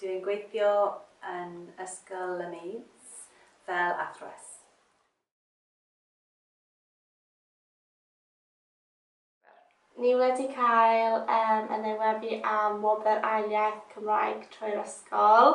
Dw i'n gweithio yn Ysgol y Maids fel athrawes. Ni wedi cael yym yn ei weddu am wobr ail iaith Cymraeg trwy'r ysgol.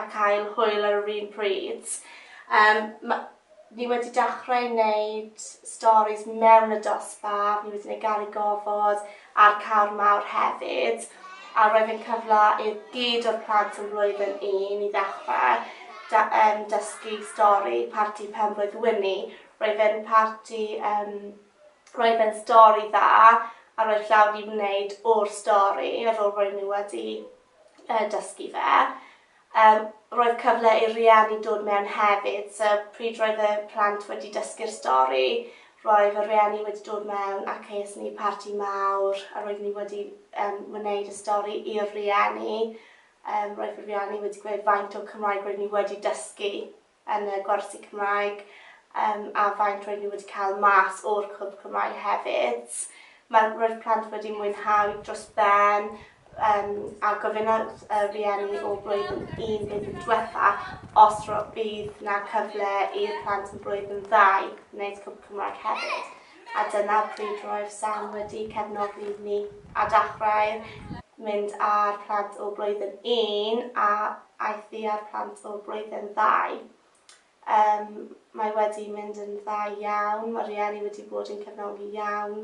a cael hwyl ar yr un pryd. Yym ma- ni wedi dechrau neud storis mewn y dosbarth, ni wedi neud Garreg Gofod a'r Cawr Mawr hefyd a roedd e'n cyfle i gyd o'r plant yn flwyddyn un i ddechre da- yym dysgu stori Parti Penblwydd Wini. Roedd e'n parti yym roedd e'n stori dda a roedd llaw 'di wneud o'r stori ar ôl roedd ni wedi dysgu fe. Yym roedd cyfle i'r rhieni dod mewn hefyd so pryd roedd y plant wedi dysgu'r stori roedd y rhieni wedi dod mewn ac es ni i parti mawr a roeddwn ni wedi yym wneud y stori i'r rhieni. Yym roedd y rhieni wedi gweud faint o Cymraeg roeddwn ni wedi dysgu yn y gwersi Cymraeg yym a faint roedd nhw wedi cael mas o'r Clwb Cymraeg hefyd. Mae... roedd plant wedi mwynhau dros ben yym a gofynnodd y rhieni o blwyddyn un blwyddyn diwetha' os ro- bydd 'na cyfle i'r plant yn blwyddyn ddau wneud Clwb Cymraeg hefyd. A dyna pryd roedd Sam wedi cefnogi ni a dachrau mynd â'r plant o blwyddyn un a aeth i â'r plant o blwyddyn ddau. Yym, mae wedi mynd yn dda iawn, mae rhieni wedi bod yn cefnogi iawn,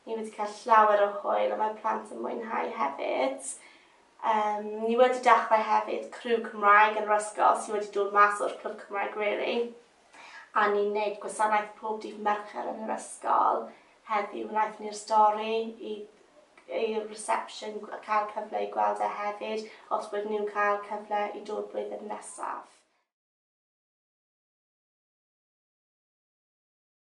ni wedi cael llawer o hwyl a mae plant yn mwynhau hefyd. Yym, ni wedi dachrau hefyd criw Cymraeg yn yr ysgol sy wedi dod mas o'r clwb Cymraeg rili. a ni'n neud gwasanaeth pob dydd Mercher yn yr ysgol heddiw wnaethon ni'r stori i i'r reception a cael cyfle i gweld e hefyd os wedyn nhw'n cael cyfle i dod blwyddyn nesaf.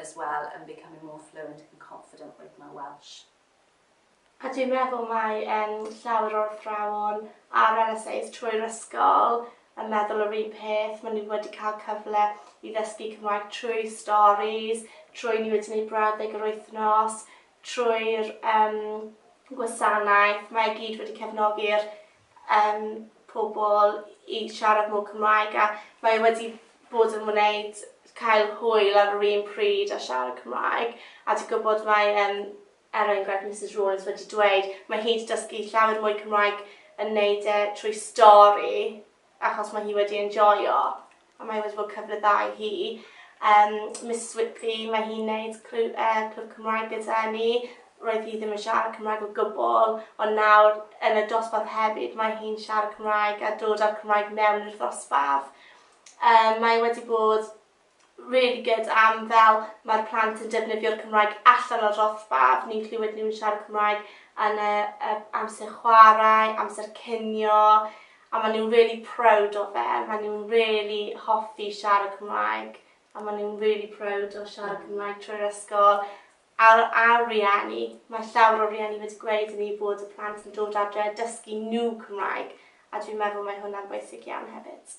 as well and becoming more fluent and confident with my Welsh. A dwi'n meddwl mae um, llawer o'r athrawon ar LSAs trwy'r ysgol yn meddwl yr un peth. Maen nhw wedi cael cyfle i ddysgu Cymraeg trwy stories, trwy ni wedi gwneud brawddeg yr wythnos, trwy'r um, gwasanaeth. Mae gyd wedi cefnogi'r yym pobl i siarad mwy Cymraeg a mae e wedi bod yn wneud cael hwyl ar yr un pryd a siarad Cymraeg a dwi gwybod mae yym er enghraifft Misus Rawlins wedi dweud mae hi wedi dysgu llawer mwy Cymraeg yn neud e trwy stori achos mae hi wedi enjoio. a mae wedi bod cyfle dda i hi. Um, Miss Switley, mae hi'n neud clwb, uh, e, clwb Cymraeg gyda ni. Roedd hi ddim yn siarad Cymraeg o gwbl, ond nawr yn y dosbarth hefyd mae hi'n siarad Cymraeg a dod â'r Cymraeg mewn i'r ddosbarth. Um, mae wedi bod really good am fel mae'r plant yn defnyddio'r Cymraeg allan o'r dosbarth. Ni'n clywed nhw'n siarad Cymraeg yn y, y amser chwarae, amser cynio, A maen nhw'n really proud o fe, maen nhw'n really hoffi siarad Cymraeg, a maen nhw'n really proud o siarad Cymraeg trwy'r ysgol. A'r a'r rieni, mae llawer o rieni wedi gweud i ni bod y plant yn dod adre a dysgu nhw Cymraeg, a dwi'n meddwl mae hwnna'n bwysig iawn hefyd.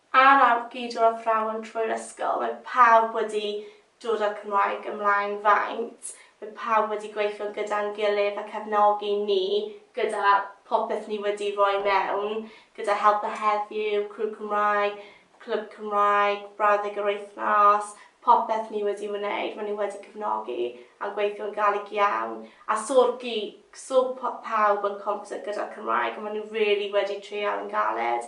Ar awr gyd o'r athrawon trwy'r ysgol, mae pawb wedi dod â'r Cymraeg ymlaen faint, mae pawb wedi gweithio gyda'n gilydd a cefnogi ni gyda phopeth ni wedi roi mewn, gyda Helpa Heddiw, Crw Cymraeg, Clwb Cymraeg, Brawddeg yr Wythnos, popeth ni wedi wneud, mae nhw wedi cefnogi a'n gweithio'n galed iawn, a so'r gi, so pawb yn competent gyda'r Cymraeg, a mae nhw rili wedi treial yn galed